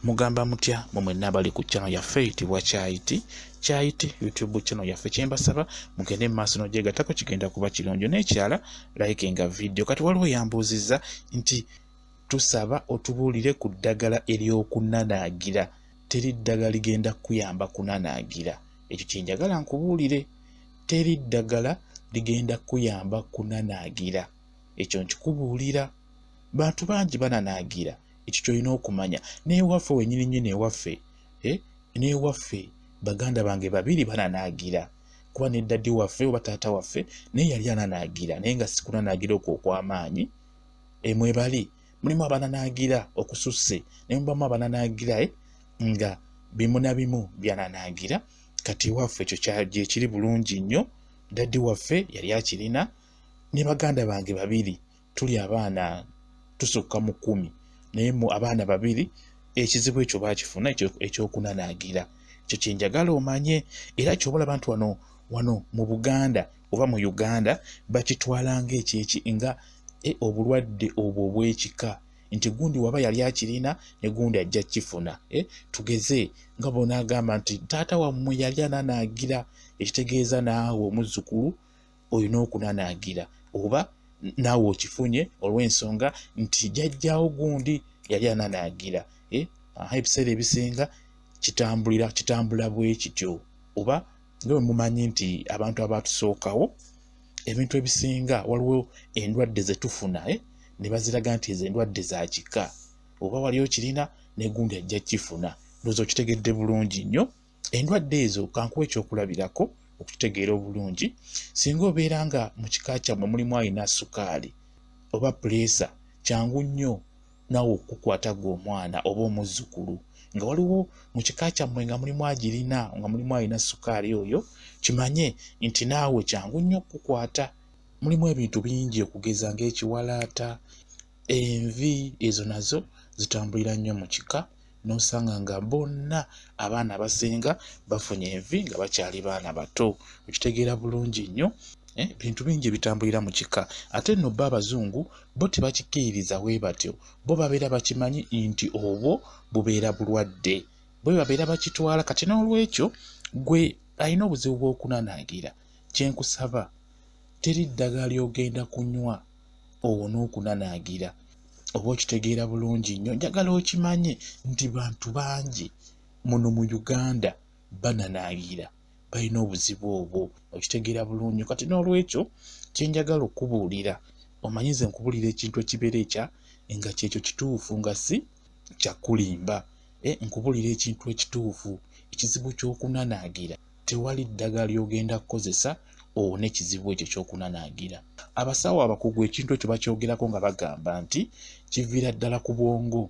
mugamba mutya mwe mwenna abali ku channel yaffe eyitibwa kyayiti kyayiti youtube channel yaffe kyembasaba mugende mu maaso nogyegatako kigenda kuba kirungi nekyala like nga video kati waliwo yambuuzizza nti tusaba otubuulire ku ddagala ery'okunanaagira teri ddagala ligenda kukuyamba kunanaagira ekyo kyenjagala nkubuulire teri ddagala ligenda kukuyamba kunanaagira ekyo nkikubuulira bantu bangi bananaagira ekyo kyolina okumanya newaffe wenyini nyini ewaffe eh? newaffe baganda bange babiri bananaagira kuba ne dadi waffe oba taata waffe naye yali ananaagira naye nga sikunanaagira okwo okwamaanyi emwebali eh, mulimu abananaagira okususse naye mubamu abananaagira eh? nga bimu na bimu byananaagira kati ewaffe ekyo kyekiri bulungi nnyo dadi waffe yali akirina ne baganda bange babiri tuli abaana tusukka mu kumi naye mu abaana babiri ekizibu ekyo bakifuna ekyokunanaagira ekyo kyenjagala omanye era kyobola abantu wano wano mu buganda oba mu uganda bakitwala ngaekyeki nga e, obulwadde obwo obwekika nti gundi waba yali akirina ne gundi ajja kifuna e, tugeze nga bona agamba nti taata wammwe yali ananaagira ekitegeeza naawe omuzzukulu olina okunanaagira oba naawe okifunye olw'ensonga nti jajjawo gundi yali ananaagira eh, aha ebiseera ebisinga kitambulira kitambula bwe kityo oba nga bwe mumanyi nti abantu abaatusookawo ebintu ebisinga waliwo endwadde ze tufuna eh, ne baziraga nti ezo endwadde za kika oba wali okirina negundi ajja kifuna ndoza okitegedde bulungi nnyo endwadde ezo kankuwa ekyokulabirako okukitegeera obulungi singa obeera nga mu kika kyammwe mulimu alina sukaali oba puleesa kyangu nnyo naawe okukukwata gwe omwana oba omuzzukulu nga waliwo mu kika kyammwe nga mulimu agirina nga mulimu alina sukaali oyo kimanye nti naawe kyangu nnyo okukukwata mulimu ebintu bingi okugeza ng'ekiwalaata envi ezo nazo zitambulira nnyo mu kika n'osanga nga bonna abaana abasinga bafunye envi nga bakyali baana bato okitegeera bulungi nnyo eh, bintu bingi ebitambulira mu kika ate nno bo abazungu bo tebakikkiririza we batyo bo babeera bakimanyi nti obwo bubeera bulwadde bwe babeera bakitwala kati n'olwekyo gwe alina obuzibu bw'okunanaagira kye nkusaba teri ddagala ly'ogenda kunywa owone okunanaagira oba okitegeera bulungi nnyo njagala okimanye nti bantu bangi muno mu uganda bananaagira balina obuzibu obwo okitegeera bulungi kati n'olwekyo kyenjagala okubuulira omanyi ze nkubuulira ekintu ekibeera ekya nga kyekyo kituufu nga si kyakulimba eh, nkubuulira ekintu ekituufu ekizibu ky'okunanaagira Tewali ddagala ly'ogenda kukozesa owone ekizibu ekyo ky'okunanaagira. Abasawo abakugu ekintu ekyo bakyogerako nga bagamba nti kiviira ddala ku bwongo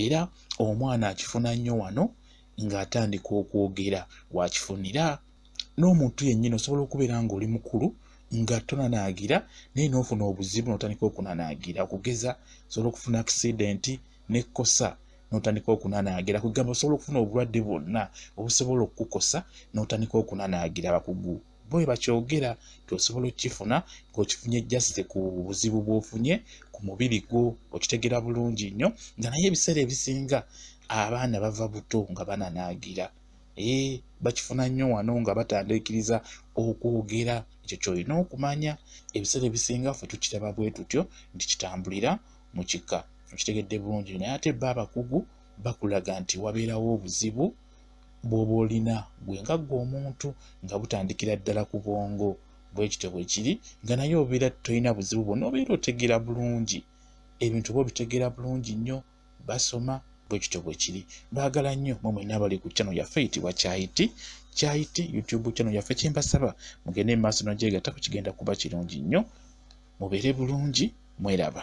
era omwana akifuna nnyo wano ng'atandika okwogera wakifunira n'omuntu yennyini osobola okubeera ng'oli mukulu nga tonanaagira naye n'ofuna obuzibu n'otandika okunanaagira okugeza osobola okufuna akisidenti n'ekkosa n'otandika okunanaagira ku kigambo osobola okufuna obulwadde bwonna obusobola okukukosa n'otandika okunanaagira abakugu bo bwe bakyogera nti osobola okukifuna ng'okifunye jasite ku buzibu bw'ofunye ku mubiri gwo okitegera bulungi nnyo nga naye ebiseera ebisinga abaana bava buto nga bananaagira ee bakifuna nnyo wano nga batandiikiriza okwogera ekyo kyolina okumanya ebiseera ebisinga ffe tukiraba bwe tutyo nti kitambulira mu kika okitegedde bulungi naye ate ba abakugu bakulaga nti wabeerawo obuzibu bwoba olina gwe nga gwe omuntu nga butandikira ddala ku bwongo bwekityo bwekiri nga naye obeera tolina buzibu bwona obeera otegeera bulungi ebintu oba obitegeera bulungi nnyo basoma bwe kityo bwe kiri baagala nnyo mwe mwenna abali ku channel yaffe eyitibwa kyayiti kyayiti youtube channel yaffe kyembasaba mugende mu maaso nogyegatta ku kigenda kuba kirungi nnyo mubeere bulungi mweraba